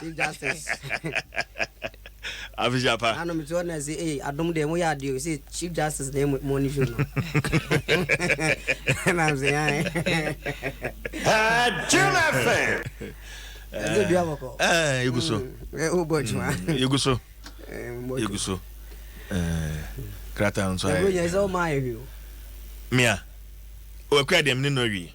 Chief Justice. Afisiapa. Ano mi ti ɔna se ee adum de mo yɛ adi o se Chief Justice de mo mo ni fi no. Ɛna mi se yan. Jim FM. Ɛdi bi abɔkɔ. Ɛɛ egu so. Ɛ o bɔ juma. Egu so. Egu so. Krata nso ayɛ. Ɛgu yɛ sɛ ɔmo ayɛ wi o. Mia. Ɔkura deɛ mi ni nɔ wi.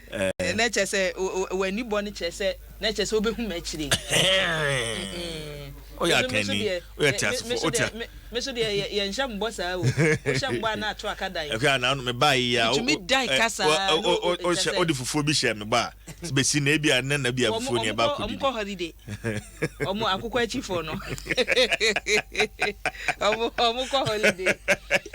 Eh. Na kyerɛ sɛ w'ani bɔ no kyerɛ sɛ na kyerɛ sɛ wobɛhu me akyire. Woyɛ akanni, woyɛ teasefo, wote a. Me so deɛ yɛnhyɛ mbɔ saa o, wohyɛ mbɔ a na ato aka dan. Ɛhwɛ a na ano mebaa yi a. Metumi dan ka saa a. Wohyɛ wode fufuo bi hyɛ mebɔ a, te bɛsi na ebi a nɛ na bi a fufuo ni ɛba akɔdi. Wɔn kɔ holiday, wɔn akokɔ akyifo no, wɔn kɔ holiday.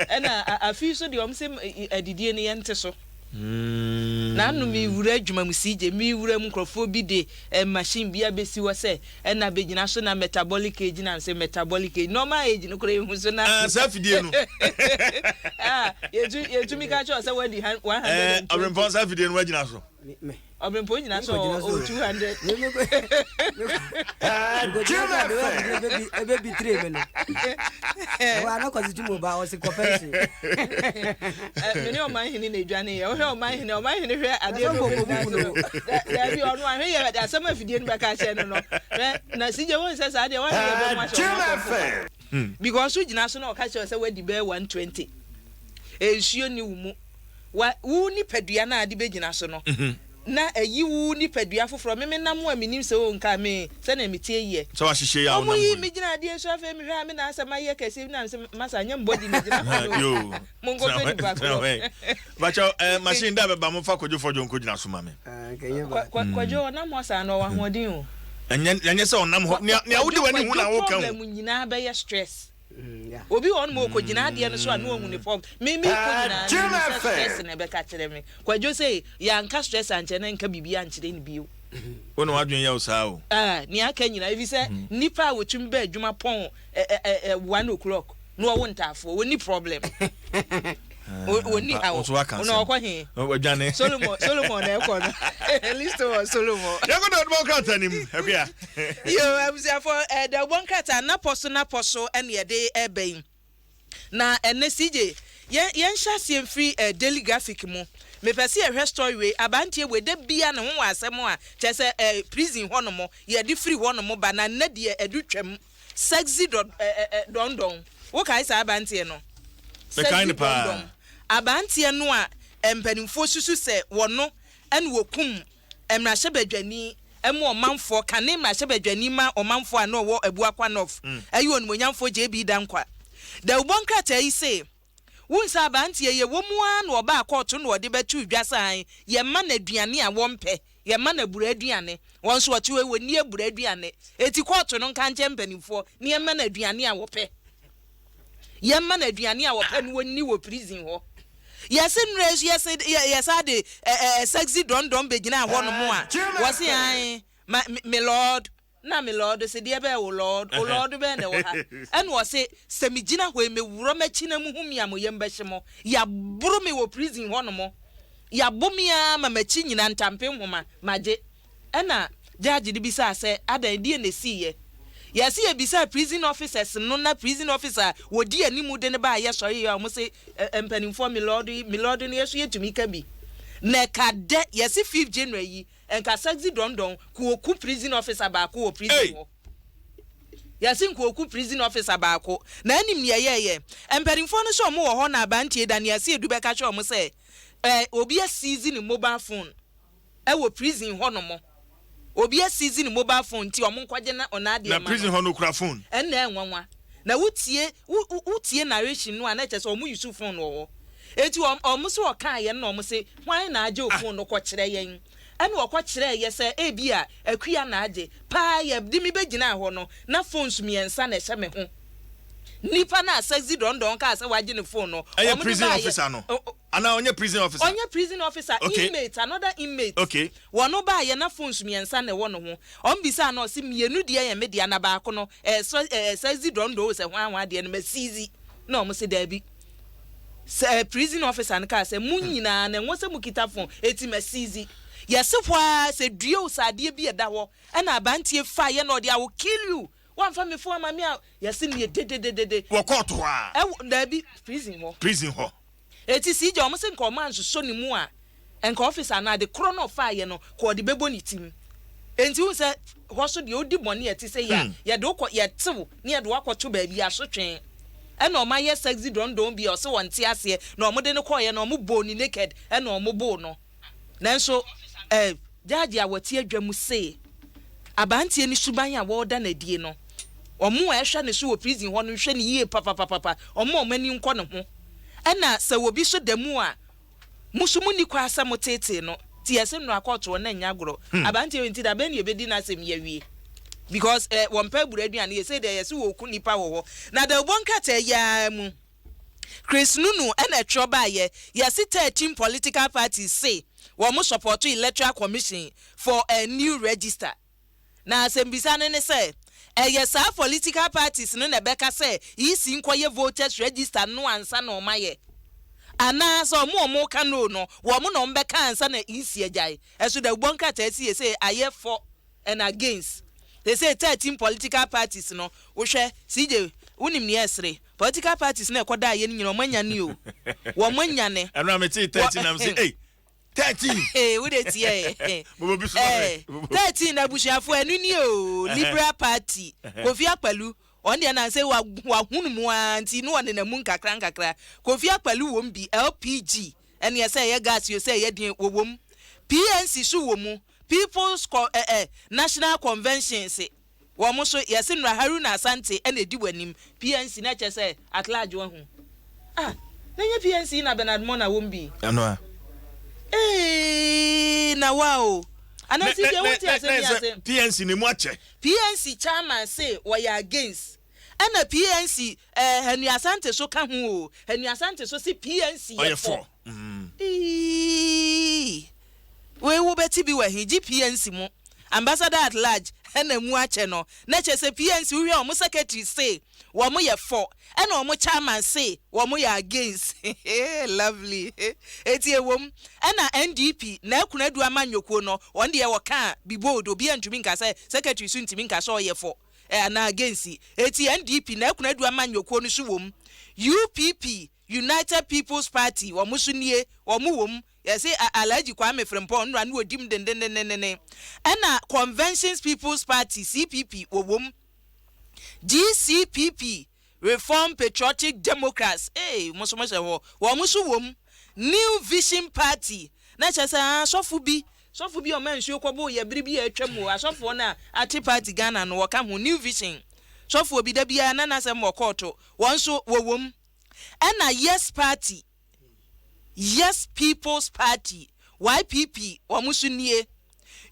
Ɛna afei so deɛ wɔn se adidie no yɛnte so. Naano me wura adwuma mu CJ, me wura mu nkurɔfoɔ bi de eh, machine bi abɛsi hɔ sɛ ɛna abɛgyina so na metabolic age na nsɛ metabolic age, normal age no koraa ɛhu so na Ah, saa fidie no. Ah, yɛtu, yɛtumi ka kyerɛ wo sɛ wadi han- 120. Eh, Ɔberempɔn, saa fidie no woagyina so. Me, me. ɔbɛnpɔ nyina sɛ ɔwɔ two hundred. nkɔgyina sɛ adeɛ ɔbɛbi ɛbɛbi tire mi no ɛwɔ ano kɔsi tu mu ba ɔsi kɔfɛ nsu. mene ɔman hene na edwane yɛ ɔhwɛ ɔman hene ɔman hene hwɛ adeɛ no ɔbɛbi na so daabi ɔno ahwɛ yɛ asɛm afidie no bɛka akyɛ no no hwɛ na sigye wɔn sɛ saa deɛ wɔahwɛ yɛ bɛmu ahyɛ ɔmo akɔfo because wogyina so na ɔka kyerɛ sɛ wadi bɛyɛ one twenty nsuo ni wo mu. Wa, wo nipadua no a de bɛgyina so no, na ayi wo nipadua foforɔ. Me, menam wo a mennim sɛ wonkaa me sɛdeɛ meteɛ yiɛ. Sɛ wahyehyɛ yi a wonam hɔ yi. Wɔyii me gyinaa adeɛ so, afei mehwɛ a me na asɛ mayɛ kɛseɛ, na mesɛ masa nyɛ mbɔ di megyina hɔ no o, monkɔhwɛ nipa korɔ. Bakyɛ, eh, machine da bɛba, momfa Kwadwo Fɔdwo nkɔgyina so ma me. Kwadwo, ɔnam hɔ saa no, ɔwɔ ahoɔden o. Ɛnyɛ, ɛnyɛ sɛ ɔnam hɔ, nea, nea wode w'ani hu na woka o. Kwadwo, problem nyinaa bɛyɛ stress. Obi wɔ hɔ nom a ɔkɔgyina adeɛ no so a na ɔhu ne fam. Me mekɔ nyinaa no mehu sɛ stress na ɛbɛka kyerɛ me. Kwadwo se yɛanka stress ankyerɛ no ɛnka biribi ankyerɛ no bio. Wo na w'adwene yɛ wo saa o. Ah, nea aka nyinaa. Efisɛ nnipa a wɔtumi ba adwuma pɔn ɛ ɛ ɛ one o'clock na wɔwo ntaafoɔ, wɔnni problem. wɔni ah, awo ɔna ɔkɔ he ɔdwane solomon solomon na ɛkɔ no listo wɔ solomon. yɛkɔ dɛ ɔdubɔ nkrata nim ɛkuya. yo abusuafo ɛdɛ eh, ɔbɔ nkrata napɔ so napɔ so ɛna yɛde ɛbɛ yi na ɛnɛ cj yɛn yɛn hyɛ aseɛ mfiri ɛɛ eh, daily graphic mu mepɛ sɛ yɛhwɛ story wei abanteɛ wei da bia ne ho wɔ asɛm a kyerɛ sɛ ɛɛ eh, prison hɔ nom yɛde firi hɔ nom ba na nnɛ deɛ ɛdo twam. Sexy dɔ ɛ ɛ ɛ dɔn dɔn. Wo kae saa abanteɛ no? Mekae no Sexy dɔn dɔn. paa. Abanteɛ no a mpanimfoɔ susu sɛ wɔno ɛna ɔkum mmarahyɛbadwani ma ɔmanfoɔ, kane mmarahyɛbadwani ma ɔmanfoɔ a na ɔwɔ Abuo Akwa North, ɛyɛ onimuonyamfoɔ JB Dankwa. Dawubɔ nkrataa yi se. Wo nsa aberanteɛ yɛ wɔ mu ara na ɔbaa kɔɔto na ɔde bɛtoo dwa sɛ ae yɛn ma no aduane a wɔmpɛ, yɛn ma no abura aduane, wɔn nso ɔte hɔ yi wɔnni abura aduane, enti kɔɔto no nka nkyɛ mpaninfoɔ na yɛn ma no aduane a wɔpɛ, yɛn ma no aduane a wɔpɛ na wɔnni wɔ prison hɔ. Yɛse nnura yi nso yɛse yɛ yɛ saa de ɛ ɛ sexy dɔndɔn bɛgyinaa hɔ nom a, wɔse ae ma me lord. Nna me lɔɔdo se, Deɛ bɛn, wo lɔɔdo, wo lɔɔdo bɛn na ɛwɔ ha? Ɛna ɔse, Sɛ megyina hɔ yi, mewurɔ m'akyi na muhu me a, mo yam bɛhye mo. Yɛaboro me wɔ prison hɔnom. Yɛabo me ara ma m'akyi nyina ntampe nhoma, magye. Ɛna judge no bisaa sɛ, Adɛn, deɛn na ɛsiiɛ? Yɛse yɛbisaa prison officers no na prison officer a wɔdi anim de no baa yɛsɔreeɛ a, wɔse, Mpanimfoɔ, me lɔɔdo yi, me lɔɔdo no yɛn nso yɛtumi ka bi. Na ɛka dɛ, yɛse fifth January yi, Nkasa dzi dɔndɔn, Kooku prison officer baako wɔ prison hɔ. Yɛse Nkooku prison officer baako, na enim deɛ ɛyɛɛyɛ. Mpaninfoɔ no sɛ ɔmo wɔ hɔ na Abantie da ne Aseedu bɛka kyerɛ ɔmo sɛ eh, obi asiizi ne mobile phone ɛwɔ prison hɔ nom. Obi asiizi ne mobile phone nti ɔmo nkɔgye na n'adeɛ Na mma prison no. hɔ no okura phone. Ɛnna ɛnwanwa. Na wo tie, wo, wo, wo tie narration no a na ɛkyerɛ sɛ ɔmo use phone wɔ hɔ. Enti ɔm, ɔmo se ɔkaeɛ no na ɔmo se Hwan na agye ofunu no kɔkyerɛ yɛn? Ɛnna ɔkɔ kyerɛɛ yɛ sɛ ebia akua na agye. Paa yɛ de me bɛgyinaa hɔ no, na phones mmiɛnsa na ɛhyɛ me ho. Nipa no a Sexy Don Don kaa sɛ wagye ne phone no, Ɛyɛ wɔn de prison baeɛ. officer no? O, o, Anaa ɔnyɛ prison officer? ɔnyɛ prison officer, Okay. inmate, another inmate. Okay. Wɔn baeɛ na phones mmiɛnsa na ɛwɔ ne ho. Wɔn bisaa no, ɔse mmienu deɛ yɛ me dea na baako no, ɛyɛ Sre, ɛɛ, Sexy Don Don o, sɛ hwan hwan deɛ no, ma seize. Na wɔn se daabi. Sɛ prison officer no kaa sɛ, Mo nyinaa no, ɛnwɔ sɛ mokita fon, enti masiizi. Yɛse hɔ ara sɛ, Due o, sɛ adeɛ bi a ɛda hɔ na abanteɛ faeɛ na ɔde, I will kill you! Woamfa me fon ama me a, yɛse neɛ dedededede. Wɔ court hɔ ara? Ɛwɔ, daabi, prison hɔ. Prison hɔ. Enti CJ, wɔse nka wɔansosɔ ne mu a, Nka ɔfese anaa ade korɔ na ɔfaeɛ no ka ɔde bɛbɔ ne tirim. Enti wohu sɛ hɔ so deɛ wodi bɔne a ɛte sɛ yei a, yɛde wo kɔ, yɛte wo na yɛde wo akɔto baabi asotwe. Ɛna wɔayɛ sexy dɔndɔn bi a ɔse ɔnte aseɛ na wɔde no kɔeɛ na wɔbɔɔ no naked na wɔboo no. Nanso eh, Judge a ɔte adwa mu se aberanteɛ no suban a wɔreda no adie no, wɔn a ɛhwɛ ne so wɔ prison hɔ no nhwɛ no yie papapapapa, wɔmma wɔn ani nkɔ ne ho. Ɛna sɛ obi nso da mu a, Mo nso monni kwan sɛ moteetee no te ɛse nnora kɔɔtoɔ na ɛnyɛ agorɔ. Aberanteɛ wei nti da bɛn na yɛbɛdi n'asɛm yi awie? Because eh, wɔmpɛ abura aduane yɛ, sei deɛ ɛyɛ se wɔku nnipa wɔ hɔ. Na dawubɔ nkrataa yi ara mu, Chris Nunu na ɛtwerɛ baeɛ, yɛse 13 political parties se wɔn support electoral commission for a new register. Na asɛmbisa no ne sɛ, ɛyɛ saa fɔlitikal patis no na ɛbɛka sɛ EC nkɔyɛ votɛs rɛgista no ansa na wɔn ayɛ? Anaa sɛ wɔn a wɔn reka no no, wɔn na wɔn bɛka ansa na EC agyae? Ɛso dɛ wobɔ nkrataa si sesei ayɛ fɔ and against. Sesei thirteen pɔlitikal patis no, wohwɛ, CJ, wonim nea ɛsere? Pɔlitikal patis no a ɛkɔdaeɛ no nyinaa wɔn anyane o. Wɔn anyane. Ɛno a metee thirteen na mese ei, thirteen. ee wo de tiɛ ee thirteen na abusuafo ɛnu ni o liberal party kofi akpalu ɔn deɛ nan sɛ wahunu mu aa nti no ɔnena mu nkakra nkakra kofi akpalu wɔm bi lpg ɛneɛ sɛ ɛyɛ gas yo sɛ ɛyɛ deɛ wɔwɔm pnc so wɔ mu people's national convention se wɔn nso yɛse mmra Haruna Asante na edi w'anim PNC na kyɛ sɛ at large wahu ah na nyɛ PNC na Bernard Mor na wɔm bi ɛno a eeii na wa o anaa si deɛ wonte asɛm yi ase PNC ne mu akyɛ PNC chairman se wɔyɛ against ɛna PNC eh Hanu Asante so ka ho o Hanu Asante so se PNC yɛ fɔ. mm. Eii! Wei wo bɛ te bi wɔ he gye PNC mo ambassador at large na mu akyɛ no na kyɛ sɛ PNC wo hwɛ ɔmo secretary se wɔmo yɛ fɔ ɛna ɔmo chairman se wɔmo yɛ against hee lovely eti ɛwom ɛna NDP na ɛkono adu amanyɔkuo no wɔn deɛ wɔ kaa bi bold obi a ntumi nka sɛ secretary so ntumi nka sɛ ɔyɛ fɔ anaa against eti NDP na ɛkono adu amanyɔkuo no so wom UPP United People's Party wɔn nso nie, wɔn wɔ mu, yɛse Alhaji Kwame Frimpong nnora no ɔdi mu dendendendenne, ɛna Conventions People's Party, CPP, wɔwɔ mu, GCPP, Reformed Patriotic Democrats, ee wɔn nso wɔhyɛ hɔ, wɔn nso wɔ mu, New Vision Party, na kyerɛ sɛ aa sɔfo bi, sɔfo bi a ɔmaa nsuo kɔboo yɛ bere bi a atwam o, asɔfoɔ no a ate party Ghana no wɔka ho, New Vision sɔfoɔ bi da biara na n'asɛm wɔ kɔɔto, wɔn nso wɔwɔ mu. ɛna Yes Party, Yes People's Party, YPP, wɔn nso nie,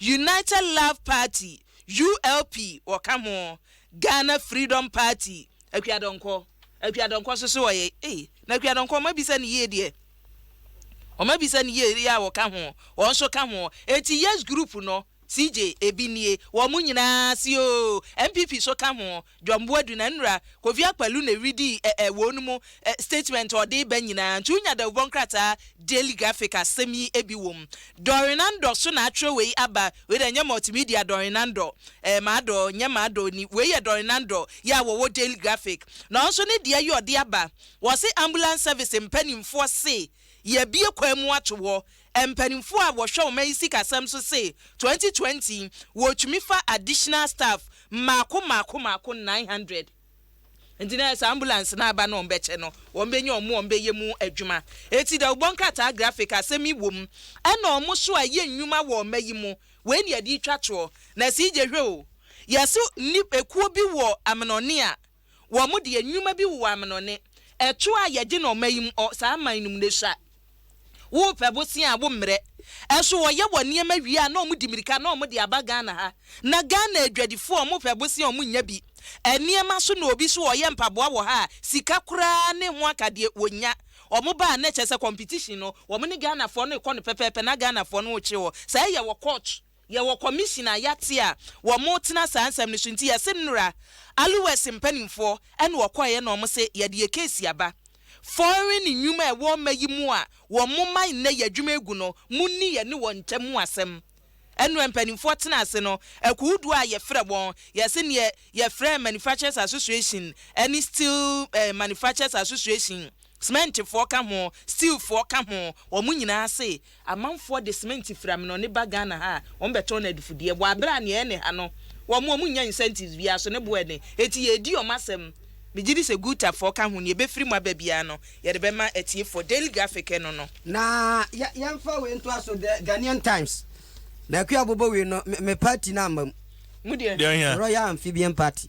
United Love Party, ULP, wɔka ho, Ghana Freedom Party, Akua Donkor, Akua Donkor nso so wɔyɛ, ei, na Akua Donkor wɔn abisa no yie deɛ, wɔn abisa no yie deɛ a wɔka ho, wɔn nso ka ho, enti Yes Group no, CJ, ebi nie, wɔn nyinaa se oo, NPP nso ka ho, John Boadu na Nra Kofi Akpaloo na eridii ɛ ɛ wɔn mu ɛ statement a ɔde reba nyinaa nti wonya dawubɔ nkrataa Daily Graphic a asɛm yi bi wom. Doreen Nandor so na akyerɛw wei aba, wei deɛ ɛnyɛ multimedia Doreen Nandor ɛɛ Mador nyɛ Mador ni, wei yɛ Doreen Nandor yi a wɔwɔ Daily Graphic na ɔnso ne deɛ yi ɔde aba, wɔse Ambulance Service mpanimfoɔ se yɛabue kwan mu ato hɔ Mpanimfoɔ a wɔhwɛ ɔman yi sikasɛm so se 2020 wɔtumi fa additional staff mmaako mmaako mmaako 900. Nti na sɛ ambulance no aba na wɔbɛkyɛ no, wɔbɛnya wɔn a wɔbɛyɛ mu adwuma. Eti dawubɔ nkrataa graphic asɛm yi wom ɛna wɔn nso a yɛ nnwuma wɔ ɔma yi mu. Wei na yɛde retwa toɔ. Na sii gye hwɛ o, yɛse nni ekuo bi wɔ Amenɔne a, wɔn deɛ nnwuma bi wowɔ amenone, ɛtoɔ a yɛgye no ɔma yi mu ɔ, saa aman no mu no sua. Wo pɛ bosea a wo mmerɛ. Ɛso wɔyɛ wɔn nneɛma wie a na wɔn di mirika na wɔn de aba Ghana ha. Na Ghana adwadifoɔ a wɔn pɛ bosea a wɔn nnya bi. Nneɛma so na obi so ɔyɛ mpaboa wɔ ha a sika koraa ne ho akadeɛ wɔn nnya. Wɔn ba a na kyerɛ sɛ competition no wɔn ne Ghanafoɔ no rekɔ no pɛpɛɛpɛ na Ghanafoɔ no rekye wɔ saa yɛ wɔ court. Yɛwɔ kɔmihyin a yɛate a wɔretena saa nsɛm no so nti yɛse mmra. Aluwɛs mpaninfoɔ na wɔkɔeɛ na wɔse yɛde yɛ keesi aba. Fɔren nnwuma a ɛwɔ mma yi mu a wɔma nnɛ yi adwuma egu no monni yɛne wɔn ntam ho asɛm. Ɛnoɛ mpaninfoɔ tena ase no akuohodoɔ a yɛfrɛ wɔn yɛse neɛ yɛfrɛ manufacturers association ne steel manufacturers association, Sementfoɔ ka ho, steelfoɔ ka ho, wɔn nyinaa se amanfoɔ de sementi firi Amenɔne ba Ghana ha a, wɔbɛtɔn no adefudeɛ, wɔ aberɛ a nea ɛne ha no, wɔn, wɔnnya incentives biara, so ne bo ɛne. Enti yɛredi wɔn asɛm. Megye di sɛ Gutafoɔ ka ho, nea ɛbɛfiri mu aba biara no, yɛde bɛma atiefoɔ. Daily Graphic no no. Na yɛ, yɛmfa wei ntoa so, The Ghanaian Times, Naaku Abobowei no, me, me party no amma mu. Mu deɛ? Deɛ hia? Royal Amphibian Party.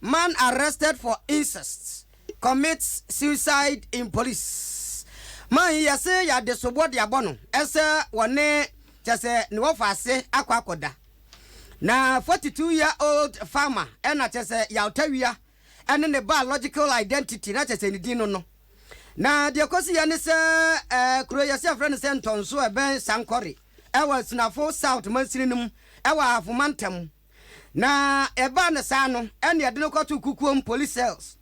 Man arrested for incest commits suicide in police Man yi yɛse yɛade soboɔ de abɔ no sɛ wɔne kyerɛ sɛ ne wɔfa ase akɔ akɔda Na 42 year old farmer na kyerɛ sɛ Yawtawia ne ne biological identity na kyerɛ sɛ ne din no no Na deɛ ɛkɔsiiɛ ne sɛ kuro yɛse yɛfrɛ no sɛ Ntɔnso a ɛbɛn Sankore wɔ Asunafo South mansini no mu wɔ Ahafo mantam mu. Na ɛbaa no saa no, ɛnna yɛde no kɔtoo Kukuom Police Cells.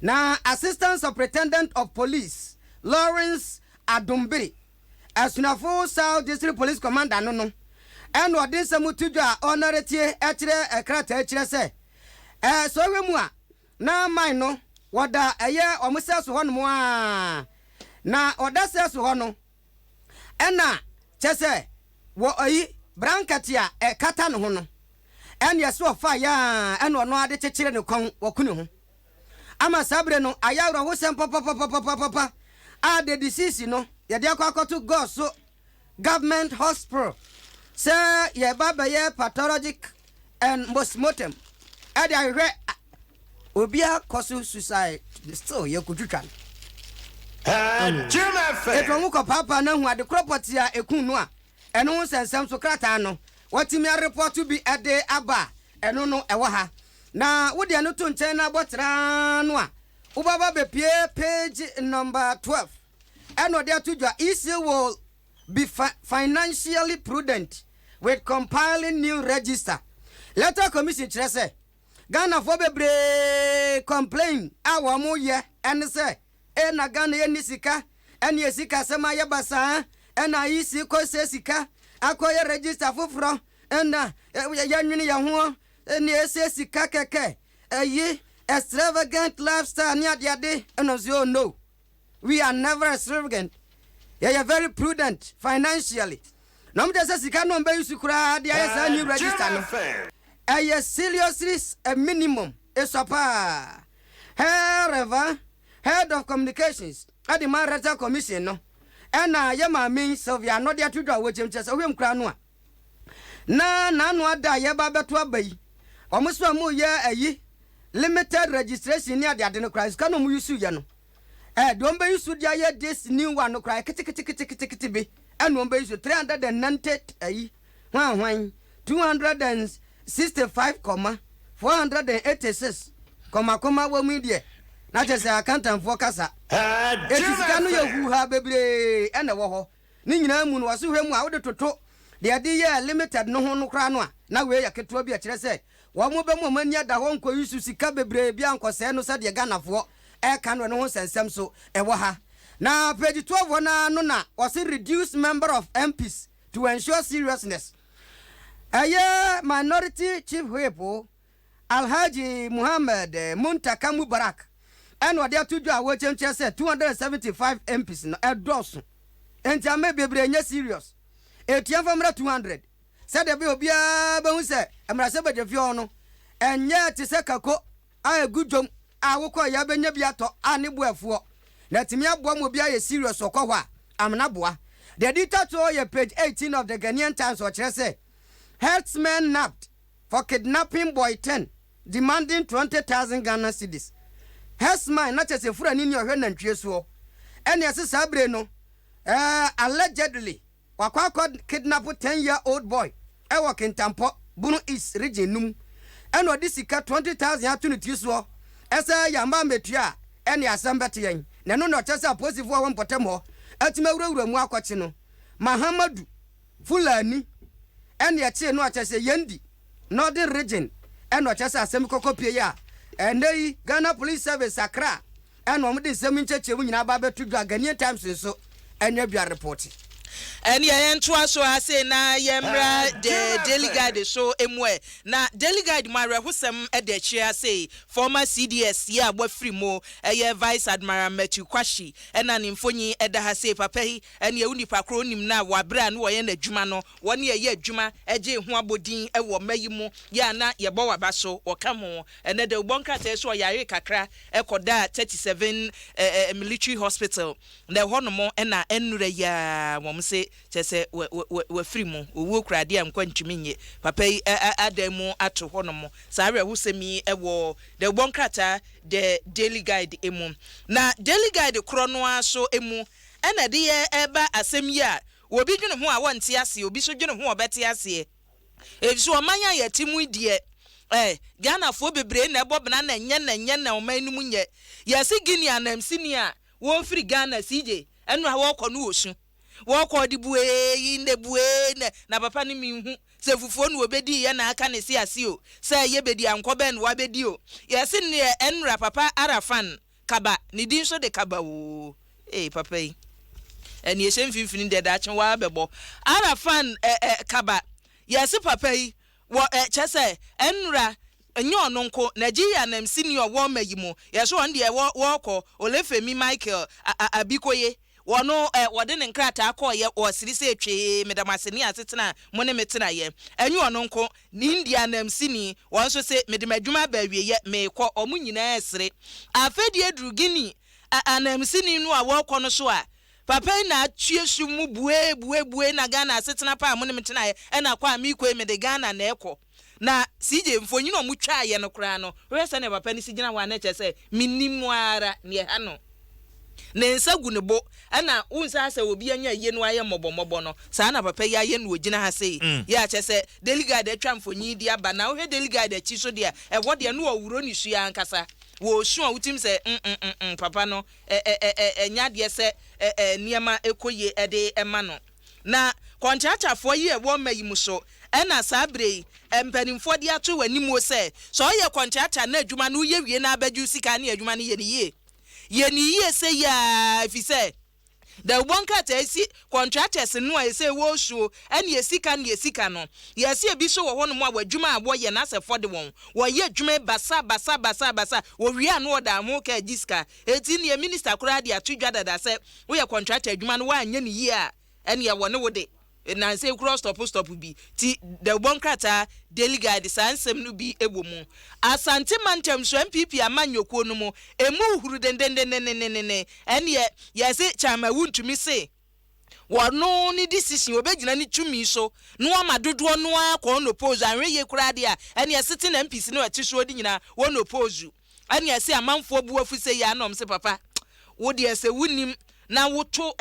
Na Assistant Superintendent of Police Lawrence Adombiri, Asunafo South District Police Commander no no, ɛnna ɔde nsɛm to dwa a ɔnnare tie kyerɛ krataa kyerɛ sɛ, ɛɛ, sɛ ɔhwɛ mu a, na mine no wɔda ɛyɛ wɔn sɛso hɔnom ara, na ɔda sɛso hɔ no, ɛna kyɛ sɛ wɔ ɔyi brankɛte a ɛkata ne ho no, ɛneɛ so ɔfa yɛ aa ɛna ɔno ara de kyekyere ne kɔn wɔ ko ne ho. Ama saa bere no ayɛ awerɛhosɛm papapapapapapa a de deceased no yɛde akɔ akɔto Gɔs so Government Hospital sɛ yɛreba abɛyɛ pathologic and postmortem ɛde ahwehwɛ obia kɔso suicide still yɛ kotwitwa no ɛtu ɔmo kɔ paapa na hu adekorɔ pɔtee a ɛku no a ɛno ho nsɛnsɛm so krataa no watumi arepɔto bi ɛde aba a ɛno no ɛwɔ ha na wode ɛno to nkyɛn na abɔ traa no a wobaba bɛpie page number 12 ɛna ɔde ato dwa isi wɔ Be fi financially prudent with compiling new register. Electoral Commission kyerɛ sɛ Ghanafoɔ bebree complain a wɔn yɛ ɛne sɛ ee na Ghana yɛ nni sika ɛne yɛ sika sɛm ayɛ basaa ɛna IEC kɔ sɛ sika akɔ yɛ register foforɔ ɛna yɛ nwene yɛ hoɔ ɛne ɛsɛ sika kɛkɛ ɛyi extravagant lifestyle ne adeade ɛna nso oh no. We are never a srvgent yɛyɛ very prudent financially na ɔmo kyerɛ sɛ sika no ɔmo bɛ use koraa de ayɛ saa new register no ɛyɛ seriously a minimum esua paa hɛɛ Rev head of communications ɛde ma rectal commission no ɛna yɛ maame yi Sylvia Anɔde ato dwa a wɔgyam kyerɛ sɛ wohwɛ mu koraa no a na n'ano ada a yɛreba abɛto aba yi, wɔn so a wɔreyɛ ayi limited registration ne ade ade no koraa sika na wɔn use yɛ no, eh, deɛ wɔn bɛ use de ayɛ this new one no koraa keteketeketekete bi ɛna wɔn bɛ use three hundred and ninety ayi hwan hwan two hundred and sixty five kɔma four hundred and eighty six kɔma kɔma wɔn yi deɛ na kyɛ sɛ akantanfoɔ kasa. Eti sika no yɛ huuhaa bebree ɛna ɛwɔ hɔ. Ne nyinaa mu no, ɔsehwɛ mu a wode toto deɛ ɛde yɛɛ limited no ho no koraa no a, na wei yɛ ketewa bi a ɛkyerɛ sɛ wɔn bɛma wɔn ani ada hɔ nkɔyi so sika bebree biara nkɔsɛe no sɛdeɛ Ghanafoɔ reka no ɛno ho nsɛnsɛm nso wɔ ha. Na page twelve hɔ no ara no na wɔse reduce member of MPs to ensure seriousness. Ɛyɛ minority chief whip Alhaji Muhammad Muntaka Mubarak na ɔde ato dwa a wɔkyɛnkyɛn sɛ 275 MPs no ɛdɔɔso nti ama bebree nyɛ serious ɛtua mfa mmra 200 sɛdeɛ ɛbɛyɛ obiara bɛhu sɛ mmarahyɛbadwafie hɔ no ɛnyɛ te sɛ kako a ɛgu dwom a wokɔeɛ a bɛnya bi atɔ a ne bo afuɔ na atumi aboa ma obiara yɛ serious ɔkɔ hɔ a amena boa The editor to yɛ page 18 of the Ghanaian Times ɔkyerɛ sɛ herdsmen nabbed for kidnapping boy ten demanding twenty thousand Ghana cedis. Herdsman na kyerɛ sɛ furani ne ɔhwɛ nantwie soɔ. Ɛne ɛse saa bire no eh allegedly wakɔ akɔ kidnap ten year old boy ɛwɔ Kintampo, Bono East region no mu ɛna ɔde sika twenty thousand ato ne tiri soɔ ɛsɛ yɛamma ammɛtua a ɛne asɛm bɛte yɛn. Na ɛno na ɔkyerɛ sɛ apolisifoɔ a ɛwɔ mpɔtam hɔ atumi awurawura mu akɔkye no. Mahamadu. Fulani ɛna ɛtee no a kyerɛ sɛ Yendi, Northern Region, ɛna ɔkyerɛ sɛ asɛm kɔkɔ pie yi a ɛnnɛ yi Ghana Police Service Accra ɛna wɔde nsɛm yi nkyerɛkyerɛmu nyinaa aba abɛto dwa, Ghanaian Times nso ɛna dwa repɔte. Ɛneɛ yɛntoa so ara sei na yɛmmra The Daily Guide so mu ɛ. Na Daily Guide mu awerɛhosɛm da akyire ara sei, Former CDS yi a wɔafiri mu, ɛyɛ Vice Admiral Matthew Kwahye ɛna ne mfonyin da ha sei, papa yi Ɛnneɛ wo nipa korɔ wonim no a, wɔ aberɛ a na wɔyɛ no adwuma no, wɔ ne yɛyɛ adwuma gyee ho abɔdin wɔ mma yi mu, yɛ a na yɛbɔ wo aba so, wɔka ho. Ɛnnɛ dɛ wobɔ nkrataɛ so ɔyaree kakra kɔdaa 37 Military Hospital, na ɛhɔ nom na ɛnnora yi ara wɔn se kyerɛ sɛ wafiri mu, owuo kura adeɛ a nkwa ntumi nnye. Papa yi adan mu ato hɔ nom. Saa awerɛhosɛm yi wɔ dɛ wobɔ nkrataa The Daily Guide mu. Na Daily Guide korɔ no ara so mu, ɛna ɛde yɛ ɛba asɛm yi a obi dwene ho a wɔnte aseɛ, obi nso dwene ho a ɔbɛte aseɛ. Ɛfisɛ ɔman a yɛte mu yi deɛ, ɛ, Ghanafoɔ bebree na ɛbɔ bena na ɛnyɛ na ɛnyɛ na ɔman no mu nyɛ. Yɛse Guinea anamsini a wɔfiri Ghana CJ ɛno a wɔkɔ no wɔ su. Wɔkɔ ɔde buee yi ndɛ buee nɛ na papa no menhu sɛ fufuo na ɔbɛdii yɛ na aka ne se ase o, sɛ yɛbɛdi ankɔ bɛn na wabɛdi o. Yɛse nneɛ ɛnra papa Arafan. Kaba, ne din nso de Kaba oo. Ee papa yi ɛne ɛhyɛ mfimfini deɛ daakye waa bɛbɔ ara fan ɛ ɛ kaba yɛse papa yi wɔ ɛ kyɛ sɛ ɛnra nyɛ ɔno nko Nigeria nam sini ɔwɔ ma yi mu yɛse ɔn deɛ wɔ wɔɔkɔ Olefemi Michael a a Abikoye Wɔn ɛ, wɔde ne nkrataa kɔeɛ wɔ siri sɛ twee meda mo ase ne asetena a mo ne me tenaeɛ. Ɛnyɛ ɔno nko, ne India anamsini, wɔn nso se, mede m'adwuma aba awieɛ, merekɔ. Wɔn nyinaa resere. Afei deɛ aduru Guinea ɛ, anamsini no a wɔrekɔ no so a, papa yi na atue sum mu buee, buee, buee, na Ghana asetena pa a mo ne me tenaeɛ na kɔ a merekɔ yi, mede Ghana na ɛrekɔ. Na CJ, mfonyin a wɔtwaeɛ no koraa no, wohwɛ sɛdeɛ papa no si gyina hɔ a, na kyerɛ sɛ mennim no ara nea ɛha no. Ne nsa gu ne bo, ɛna wohu sɛ asɛ obi anya ayie na wayɛ mmɔbɔmmɔbɔ no, saa na papa yi ayɛ na ɔgyina ha sei. Yɛ a kyerɛ sɛ Delegard atwa mfonyin yi de aba. Na wohwɛ Delegard akyi nso deɛ a, ɛhɔ deɛ na ɔreworɔ ne su ankasa. Wɔresu a wotim sɛ mm-mm-mm, papa no, ɛ-ɛ-ɛ-ɛ, ɛnyɛ adeɛ sɛ ɛ-ɛ, nneɛma kɔ yie de ma no. Na kɔntratafoɔ yɛ wɔ mma yi mu so, ɛna saa berɛ yi mpanimfoɔ de ato w'animuo sɛ, sɛ woyɛ kɔntrata na adwuma no woyɛ wie na abɛdwo sika ne adwuma no yɛ no yie. Yɛ no yie seyie ara ɛfiri sɛ dawubɔ nkrataa yi si kɔntratɛse no a ɛsɛ wɔsuo ɛne ɛsika ne ɛsika no. Yɛse ɛbi so wɔ hɔ nom a w'adwuma a wɔyɛ no asɛ fɔde wɔn, wɔyɛ adwuma yi basa basa basa basa wɔwie a na wɔda ho ka gye sika Enti nea minista koraa de ato dwa dada sɛ woyɛ kɔntrata adwuma no woanyɛ no yie a, ɛnneɛ wɔne wo de nnansa yi koraa stɔpo stɔpo bi. Ti dawubɔ nkrataa Daily Guide saa nsɛm no bi wɔ mu. Asante mantam so NPP amanyɔkuo no mu ɛmu huhuru dendendendendenden, ɛnneɛ yɛse kyan ma wuntumi se. Wɔno ne decision, obegyina ne tumi so na wama dodoɔ no ara kɔ on oppose. Anhwɛ yie koraa deɛ a, ɛneɛ sitting MPs no a ɛte soɔ de nyinaa wɔn oppose. Ɛneɛ ɛse amanfoɔ bu afu sei aa na wɔn se papa wo deɛ sɛ wo nim na wo to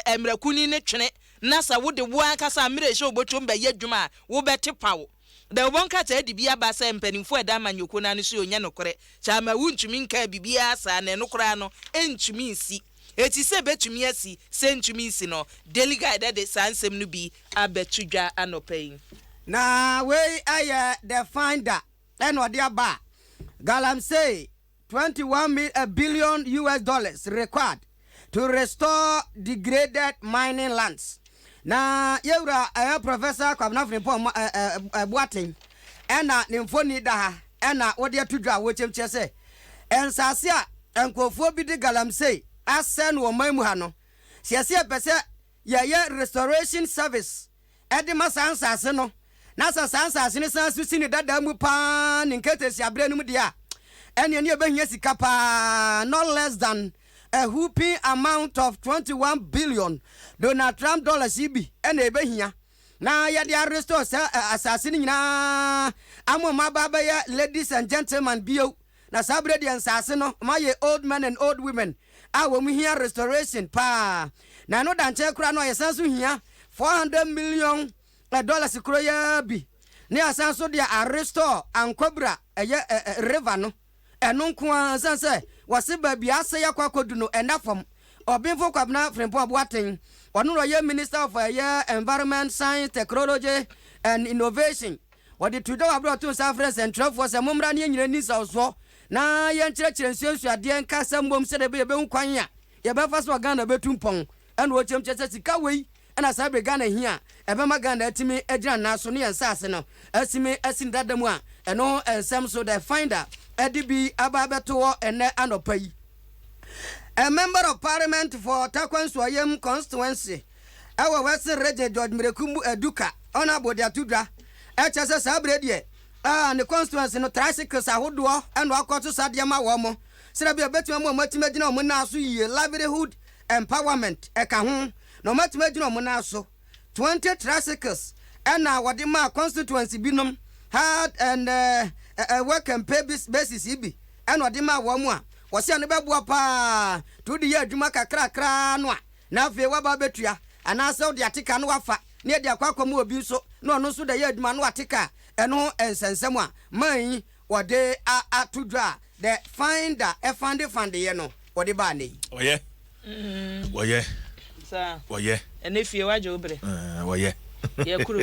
ɛmrakuni no twene na sɛ wo de wo ankasa mmerɛ hyɛ wo botom bɛyɛ adwuma a, wo bɛte pawo. Dawubɔ nkrataa de bi aba sɛ mpanimfoɔ a ɛda amanyɔkuo no ano so yi ɔnyɛ nokorɛ, Kyamawu ntumi nkaa biribiara saa na ɛno koraa no ɛntumi nsi. Eti sɛ ɛbɛtumi asi, sɛ ɛntumi nsi no, Daily Guide de saa nsɛm no bi abɛto dwa anɔpa yi. Na wei yɛ The Finder na ɔde aba a, Galamsey. 21 mil a billion US dollars required to restore degraded mining lands. Na yɛwura ɛyɛ Professor Kwabena Frimpong ma ɛ ɛ Boateng ɛna ne mfoni da ha ɛna wɔde ato dwa a wɔkyɛm kyerɛ sɛ nsaase a nkurɔfoɔ bi de galamsey asɛe no wɔ ɔman mu ha no, sɛ yɛsɛ yɛpɛ sɛ yɛyɛ restoration service de ma saa nsase no, na sɛ saa nsase no san so si ne dada mu pa ara ne nkatahyia berɛ no mu deɛ a, ɛnneɛ ne ɛbɛhia sika pa ara, not less than a whooping amount of twenty one billion Donald Trump dollars yi bi na ɛbɛhia na yɛde a restore saa asase no nyinaa ama wɔn aba abɛyɛ ladies and gentlemen bio. Na saa berɛ deɛ nsaase no moayɛ old men and old women a wɔn hia restoration paa. Na ɛno da nkyɛn koraa no a yɛsan so hia four hundred million dollars koro yi ara bi na yɛasan nso de a restore Ankwabura ɛyɛ river no. Ɛno nko ara ɛsiane sɛ wɔse baabi a asɛe akɔ akɔdu no ɛnna fam. Ɔbenfo Kwabena Frimpong Boateng ɔno na ɔyɛ minister of ɛyɛ environment, science, technology and innovation. Wɔde too dwa wɔ bere a ɔtoo nsa frɛɛ sɛnkyerɛwfo sɛ, Mommra na yɛnyina nni nsawsoɔ na yɛnkyerɛkyerɛ nsuansuadeɛ nka asɛm mmom sɛdeɛ ɛbɛyɛ yɛbɛhu kwan a yɛbɛfa so a Ghana bɛtu mpɔn. Ɛna ɔkyerɛm kyerɛ sɛ sika wei na saa bere Ghana hia a ɛbɛma Ghana atumi agyina ne nan so ne yɛn nsaase no asime asi ne dada mu a ɛno ho nsɛm nso The Finder de bi aba abɛto hɔ ɛnnɛ anɔpa yi. A member of parliament for Tarkwa Nsuayam constituency. wɔ Western Region George Mirakumbu Aduka Honourable de ato dwa, kyerɛ sɛ saa berɛ deɛ ne constituency no tricycles ahodoɔ na ɔkɔto sa deɛ ma wɔn, sɛdeɛ bia ɛbɛtumi ama wɔn atumi agyina wɔn nan so yie, livelihood empowerment ka ho, na wɔn atumi agyina wɔn nan so. 20 tricycles na wɔde maa constituency binom, hard and work and pay basis bi na wɔde maa wɔn a, wɔse ɛno bɛboa paa to wode yɛ adwuma kakrakra no a, na afei woaba abɛtua, anaasɛ wode ate ka na woafa na yɛde akɔ akɔma obi nso na ɔno nso da yɛ adwuma na wate ka a, ɛno ho nsɛ nsɛm a man yi wɔde ato dwa a the finder fande fandeyɛ no wɔde baa nnɛ yi. Wɔyɛ. Wɔyɛ. Saa. Wɔyɛ. Ɛnɛ fie wagye wo berɛ. Ɛɛ wɔyɛ. Yɛ kuro.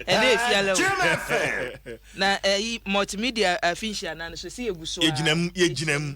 Ɛnɛ efi alɛ o. Na ɛyi multimedia afinhyia nan so si yɛ gu so a. Yɛ gyina mu yɛ gyina mu.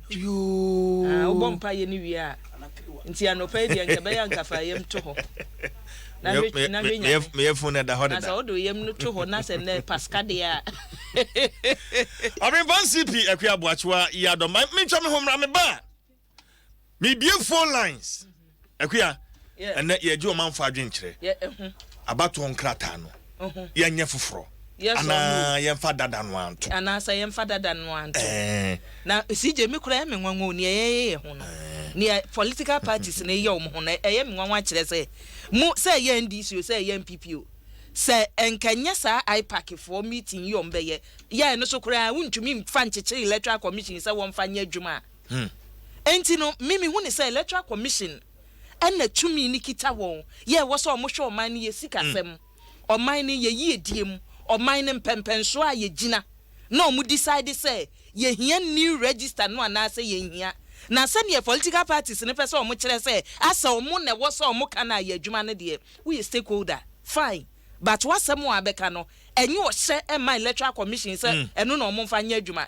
Yoo. Ah wobɔ mpaeɛ no wie a nti anɔpa yi deɛ nka ɛbɛyɛ anka fa yam to hɔ na hwɛ Meyɛ- na me- hwɛ me- nyame meyɛ- meyɛ fun ɛda hɔ na sɛ deda wode wo yam no to hɔ na sɛ nnɛ pasika deɛ a ɔbempa ncp akua aboakyewa yi adɔ ma mentwa me ho mmra meba a mebie phone lines Akua, ɛnnɛ yɛregye ɔmanfo adwene kyerɛ abatoɔ nkrataa no, yɛnyɛ foforɔ anaa yɛmfa dada no ara nto? Anaasɛ yɛmfa dada no ara nto? Na CJ me koraa ɛyɛ me nwanwa o, nea yɛyɛ yɛn ho no, nea political parties no yɛ wɔn ho no, ɛyɛ me nwanwa kyerɛ sɛ mo, sɛ ɛyɛ NDC o, sɛ ɛyɛ NPP o, sɛ ɛnka ɛnyɛ saa IPAC foɔ meeting yi a wɔbɛyɛ, yɛɛ no so koraa a wontumi mfa nkyekyere electoral commission sɛ wɔmfa nyɛ adwuma a, Hmm. Enti no, me mehu ne sɛ Electoral Commission na tumi no kita wɔn, yɛ ɛwɔ sɛ wɔhwɛ ɔman no yɛ sikasɛm, ɔman no yɛ yiedie mu, ɔman no mpɛmpɛnsoɔ a yɛgyina, na wɔn decide sɛ yɛhia new register no anaasɛ yɛnhia. Na sɛdeɛ political parties no pɛ sɛ wɔn kyerɛ sɛ asɛ wɔn na ɛwɔ sɛ wɔn ka no ayɛ adwuma no deɛ, woyɛ stakeholder, fine, but w'asɛm a wobɛka no, ɛnyɛ ɔhyɛ mma Electoral Commission sɛ ɛno na wɔmfa nyɛ adwuma.